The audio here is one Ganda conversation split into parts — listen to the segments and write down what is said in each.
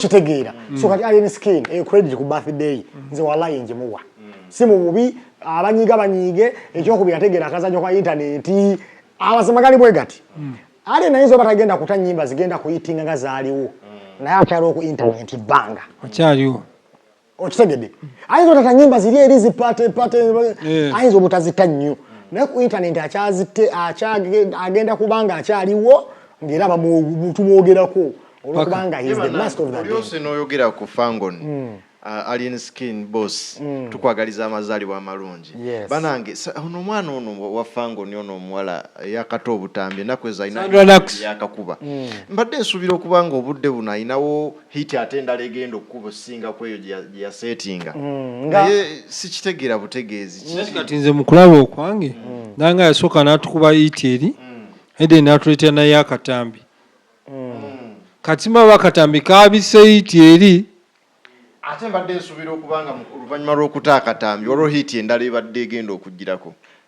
kitegeera mm. so kati alien skin eyo credit ku birthday mm. nze walayi njimuwa mm. si mu bubi abanyiga banyiige ekyokubiri ategeera akazanyo ka intaneti abasema gali bwe gati alien ayinza oba tagenda kuta nyimba zigenda kuyitinga nga zaaliwo naye akyaliwo ku intaneti bbanga akyaliwo okitegedde ayinza otata nyimba ziri eri zipate pate eh. ayinza obutazita nnyo naye ku intanenti akyazitte agenda kubanga akyaliwo ngaera tumwogerako olwokubanga oyogera ku fangon hmm. uh, alien skin boss hmm. tukwagaliza amazaalibwa amalungi banange ono omwana ono wa fangon ono omuwala yakata obutambi enaku ezo alina yakakuba hmm. mbadde nsuubira okuba nga obudde buno alinawo hit ate endala egenda okukuba okusinga kweyo gye yasetinga mm, naye sikitegeera butegeezi kati nze mukulaba okwange mm. nanga yasooka natukuba hit eri mm. eden natuleetera naye akatambi kati maba akatambi kabise hit eri ate mbadde nsuubira okuba nga oluvannyuma lw'okuta akatambi olwo hit endala ebadde egenda okugirako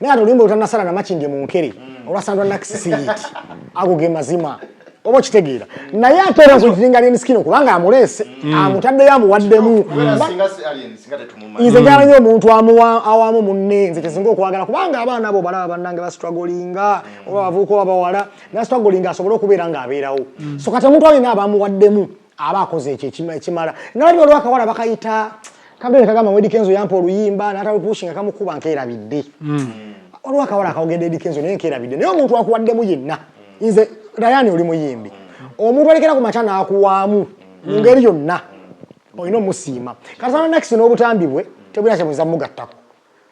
naye ate oluyimba lutanasala namakindye mu nkere mm. olwasandwa nakisisiyiti ago ge mazima oba okitegeera naye ate era nsokiringa alien skin kubanga amuleese mm. amutaddeyo amuwaddemu nze njala nyo omuntu awamu munne nze kyesinga okwagala kubanga abaana abo balaba bannange bastragolinga mm. oba bavuuka oba bawala nastragolinga asobole okubeera ng'abeerawo mm. so kati omuntu alina abamuwaddemu aba akoze ekyo ekimala nga waliwo olwakawala bakayita kagenda kagamba wedi kenzo yampa oluyimba natalupushinga kamukuba nkerabidde hmm. olwakawala akawogedde edi kenzo naye nkerabidde naye omuntu akuwaddemu yenna hmm. nze dayani oli muyimbi hmm. omuntu alekera ku makya nakuwaamu mu ngeri yonna olina omusiima kati sana nakisi n'obutambi bwe tebulina kyemuza mugattako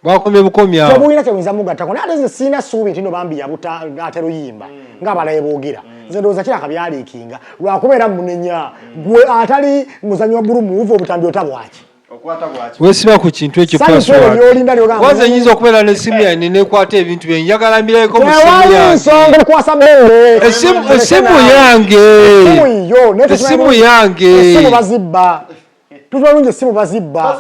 Bakomye bukomye awo. Tebulina kyebuyinza mugattako naye ate nze sirina ssuubi nti no bambi yabuta ate luyimba mm. ng'abalaye boogera mm. nze ndowooza kiraka byaliikinga lwakubeera munenya mm. gwe atali muzanyi wa bulu muuva obutambi ota bwaki wesiba ku kintu ekyo passwordwaza nyinza okubeera nesimu yane nekwata ebintu bye njagala mbirabeko esimu yange esimu yange tubalungi esimu bazibba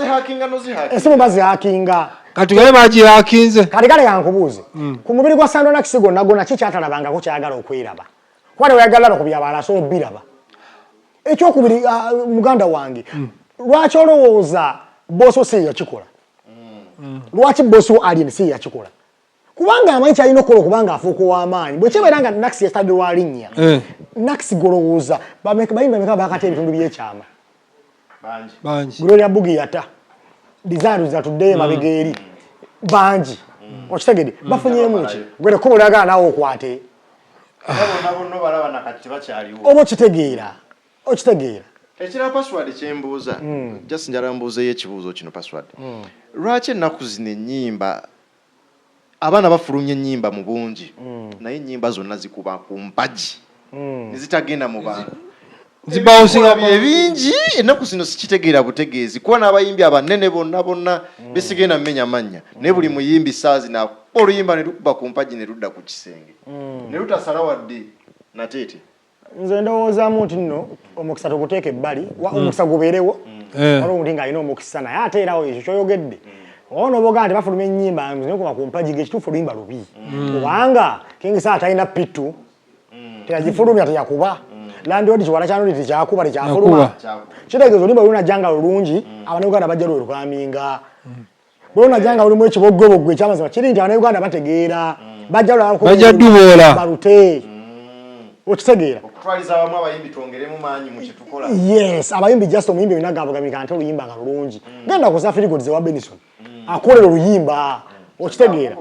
esimu bazihakinga kati gaye bagihakinze kati kale yankubuuze hmm. ku mubiri gwa sandonakisi gonna gonna ki kyatalabangako kyayagala okwiraba kuba tewayagala laba ku byabala asobola obiraba ekyokubiri ah, muganda wange hmm. lwaki olowooza bosi wo si yeyakikola hmm. lwaki bosi wo alien si yeyakikola kubanga amanyi kyalina okukola okubanga afuuka ow'amaanyi bwe kibeera nga nakisi yasitadde wa linnya eh. nakisi golowooza bayimba meka bakata ebitundu by'ekyama gloria bugi yata dizaaru zatuddeyo mm. emabega eri bangi mm. okitegede mm. bafunyemu ki gwere kuba olagala nawe okwate oba okitegeera okitegeera ekira password kyembuuza just njala mbuuzeyo ekibuuzo kino password lwaki ennaku zino ennyimba Abaana bafulumya ennyimba mu bungi naye ennyimba zonna zikuba ku mpagi ne zitagenda mu bantu. Ebikula bye bingi ennaku zino sikitegeera butegeezi kuba n'abayimbi abanene bonna bonna be sigenda mmenya mannya naye buli muyimbi ssaawa zino akuba oluyimba ne lukuba ku mpagi ne ludda ku kisenge ne lutasala wadde nateete. nze ndowoozamu nti nno omukisa tuguteeka ebbali mm. omukisa gubeerewo eh. waliwo omuntu ng'alina omukisa naye ate era oyo ekyo kyoyogedde mm. ono boga nti bafuluma ennyimba nokuma ku mpagi gekituufu oluyimba lubi mm. kubanga kingisa atalina pitu teyagifulumya teyakuba landiodi kiwala kyanoli tekyakuba tekyafuluma kitegeeza oluyimba lulunajja nga lulungi abanauganda bajja lwe lukaminga bwe onajja nga olimu ekiboggoboggo ekyamazima kiri nti abanauganda bategeera mm. bajja lwabajja duboola balute okitegeera okutwaliza abamu abayimbi twongeremu maanyi mu kyetukola yes abayimbi just omuyimbi olina gabugabika ate oluyimba nga lulungi mm. genda kuza firigodi zewa benison mm. akolera oluyimba mm. okitegeera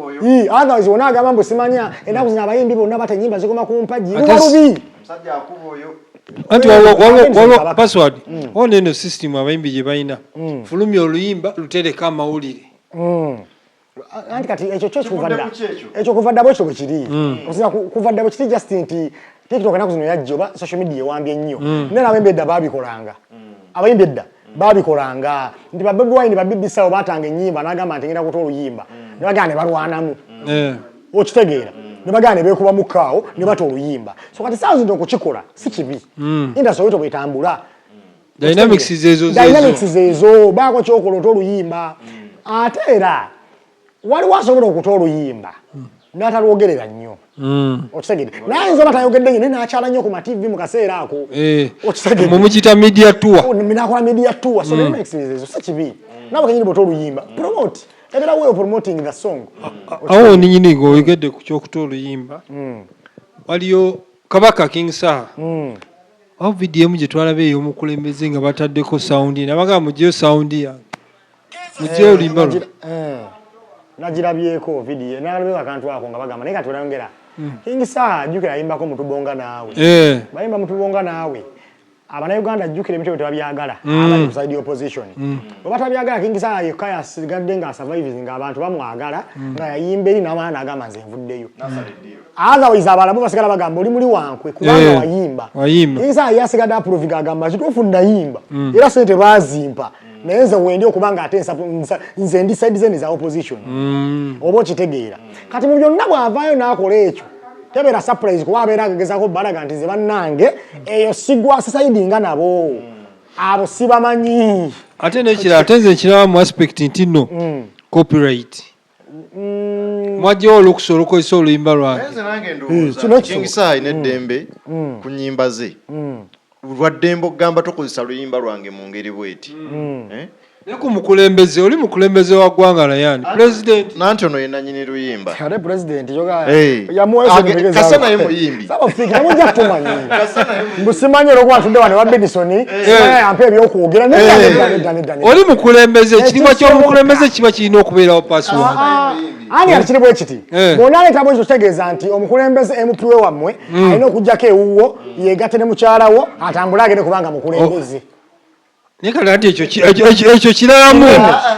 otherwise wona agamba mbu simanya enaku zino abayimbi bonna bata enyimba zikoma ku mpagi luba lubi Musajja akuba oyo. Anti waliwo password. Mm. Waliwo eno system abayimbi gye balina. Mm. Fulumya oluyimba lutereka amawulire. Mm. Anti kati ekyo kyo kuva dda. Ekyo kuva dda bwekyo bwe kiri. Osina kuva dda bwe kiri just nti TikTok enaku zino yajja oba social media ewambye nnyo. Naye abayimbi edda baabikolanga. Abayimbi edda. babikolanga nti ba Bobi Wine ba BBC awo batanga ennyimba n'agamba nti ngenda kuta oluyimba ne bagana ne balwanamu eh. okitegeera ne bagana ne beekubamu kaawo ne bata oluyimba so kati saawa zino okukikola si kibi hmm. indasi oyito bwetambula dynamics zezo zezo bako kyokola ota oluyimba hmm. ate era waliwo asobola okuta oluyimba hmm. natalwogerera nnyo hmm. okitegede naye ayinza oba tayogedde nyo naye nakyala nnyo ku mativi mu kaseera ako eh, okitegedemumukita media tour oh, nakola media tour so hmm. ezo si kibi nawe kenyini bwota oluyimba promote ebera wewe promoting the song awo ninyini nga oyogedde ku kyokuta oluyimba waliyo kabaka king saha awo vidiyo emu gyetwalaba ey'omukulembeze nga bataddeko sawundi nabagamba mujeyo sawundi yange mujjeyo eh, oluyimba luno eh, nagirabyeko vidiyo nalabeko akantu ako nga bagamba naye katulangera hmm. kingi saa jjukira ayimbako mutubonga naawe eh. bayimba mutubonga naawe abanauganda jjukira ebintu byetebabyagala hmm. abali kuside opposition hmm. webatabyagala kingi saa yekka yasigadde nga survives nga abantu bamwagala nga yayimba eri nawana agamba nze nvuddeyo otherwise abalamu basigala bagamba oli muli wankwe kubanga eh, wayimba yinza yasigadde aproviga agamba kituufu nayimba mm. era sente bazimpa mm. naye nze wendi okuba nga ate nze ndi side zene za opposition mm. oba okitegeera kati mu byonna bw'avaayo n'akola ekyo tebeera surprise kuba abeera agezako balaga nti ze bannange eyo sigwasisaidinga nabo abo sibamanyi ate nekira ate nze ekiraba mu aspect nti no mm. copyright Mm. mwajjawo olukusa olukozesa oluyimba lwangekingisaayi eh, mm. neddembe mm. ku nyimba ze lwaddembe okugamba tokozesa luyimba lwange mu ngeri bweti eh? naye ku mukulembeze oli mukulembeze wa ggwanga nayani pulezidenti nanti ono yenanyini luyimba kale pulezidenti yoga eh. yamuwesa kasanaye muyimbi oli mukulembeze ekitiibwa kyomukulembeze kiba kirina okubeerawo password ani alikiri bwe kiti eh. bwona aleeta bwekyo kitegeeza nti omukulembeze emupiwe wammwe hmm. alina okujjako ewuwo yegatte ne mukyalawo atambule agende kubanga mukulembeze oh. naye kati ati ekyo ekyo kiramu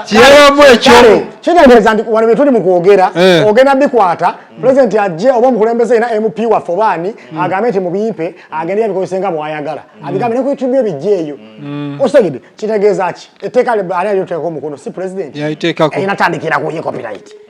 kiramu ekyo kitegeeza nti wano byetuli mu kwogera eh. ogenda bikwata pulezidenti ajje oba omukulembeze yena mp waffe obaani hmm. agambe nti mubimpe agende yabikozese nga bwayagala hmm. abigambe ne ku youtube ebijja eyo hmm. osegede kitegeeza ki etteeka ani alyoteekako omukono si pulezidenti yaliteekako enatandikira kuye copyright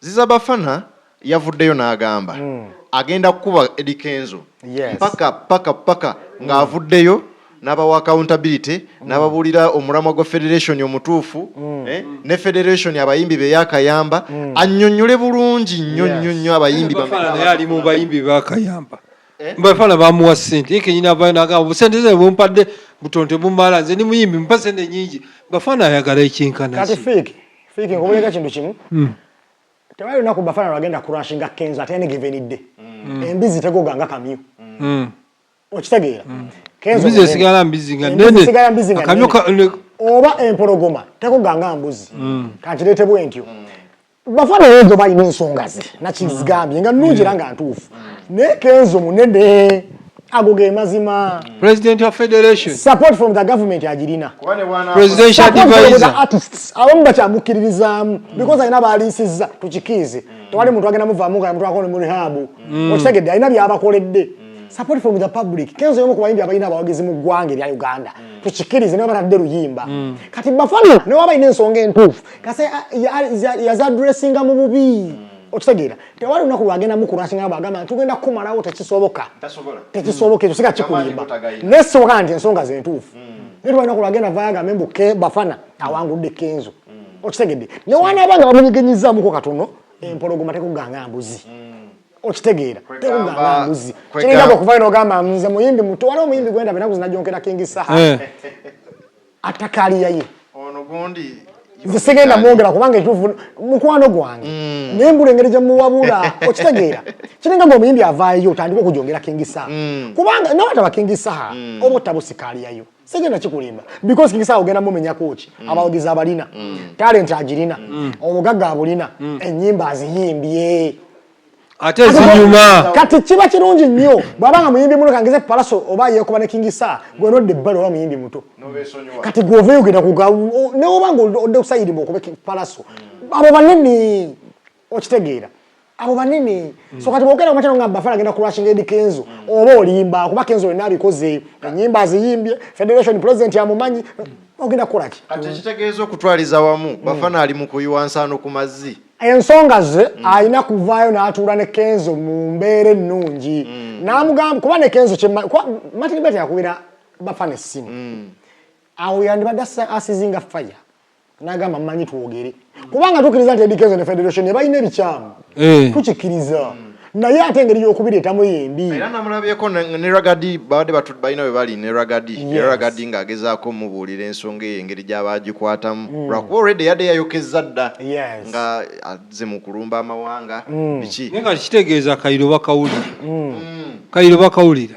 Ziza Bafana yavuddeyo n'agamba hmm. agenda kukuba Eddy Kenzo paka paka paka ng'avuddeyo hmm. n'abawa accountability hmm. n'ababuulira omulamwa gwa federation omutuufu eh, ne federation abayimbi be yakayamba annyonnyole bulungi nnyo nnyo nnyo abayimbi ali mu bayimbi bakayamba eh? bafana bamuwa sente kenyina vanagamba busente ze bumpadde butonte bumala nze ni muyimbi mpa sente nyingi bafana ayagala ekinkana Fiki nkubuulira kintu kimu hmm. tewali lunaku bafana lwagenda kurashinga kenzo ate yanigeva enidde hmm. embizi tegoga nga kamyu hmm. okitegeera embizi esigala mbizi nga nene akamyu oba empologoma tegoga nga mbuzi kankireete bwentyo bafana ezo balina ensonga ze nakizigambye nga nungi era nga ntuufu naye kenzo munene ago ge mazima president of federation support from the government ajirina presidential advisor artists abamu bakyamukkiririzaamu because alina baaliisiza tukikiize tewali muntu agenda muvaamu nga muntu akole mu rihabu mm. okitegedde alina byabakoledde mm. support from the public kenzo yomu kubayimbi abalina abawagizi mu ggwanga erya uganda mm. tukikirize naye batadde luyimba kati bafana naye wabalina ensonga entuufu kasi yazadressinga mu bubi okitegeera tewali lunaku lwagenda mukulwasinga bwagamba nti tugenda kukumalawo tekisoboka tekisoboka ekyo siga kikulimba naye sisoboka nti ensonga zentuufu mm. naye tewali lunaku lwagenda vayagambe mbu bafana awangudde kenzo mm. okitegedde newanaba nga bamunyigenyizamuko katono mm. empologoma tekuganga mbuzi okitegeera tekugamba mbuzi kiringa okuvayo nogamba nze muyimbi muto waliwo omuyimbi gwendaba enaku zinajonkera kingi saha eh. atakaaliya ye ono gundi nze sigenda mwongera kubanga ekituufu mukwano gwange mm. naye mbula engeri gyemuwabula okitegeera kiringa nga omuyimbi avaayo otandika okujongera kingisaha mm. kubanga nawe ataba kingisaha mm. oba ottaba osikaaliyayo sigenda kikulimba because kingisaha ogenda mumenyako ki abawagizi abalina talenti agirina obugagga abulina ennyimba aziyimbye ate ezinyuma kati kiba kirungi nnyo bwaba nga muyimbi muno kangeze palaso oba yekoba ne kingi sa gwe nodde ebbali oba muyimbi muto kati gwe ova eyogenda kuga newoba nga odde kusayirimu okube palaso mm. abo banene okitegeera abo banene mm. so kati bwogenda kumakyalo nga bafana agenda kulwashinga edi kenzo mm. oba olimba kuba kenzo olina abikoze enyimba aziyimbye federation president amumanyi ogenda kukolaki kati ekitegeeza okutwaliza wamu bafana ali mu kuyiwa nsaano ku mazzi ensonga ze mm. alina kuvaayo n'atuula ne kenzo mu mbeera ennungi mm. n'amugamba kuba ne kenzo martin bet yakubira bafana essimu mm. awo yandibadde asizinga faya n'agamba mmanyi twogere kubanga tukkiriza nti edi kenzo ne federation ebalina ebikyamu eh. tukikkiriza naye ate engeri y'okubireetamu yembi era namulabyeko ne ragadi babadde batu balina bwe bali ne ragadi era ragadi ng'agezaako omubuulira ensonga eyo engeri gy'aba agikwatamu hmm. lwakuba olredi yadde yayokezza dda nga azze mu kulumba amawanga hmm. biki naye nga kitegeeza kayiro bakawulira hmm. kayiro bakawulira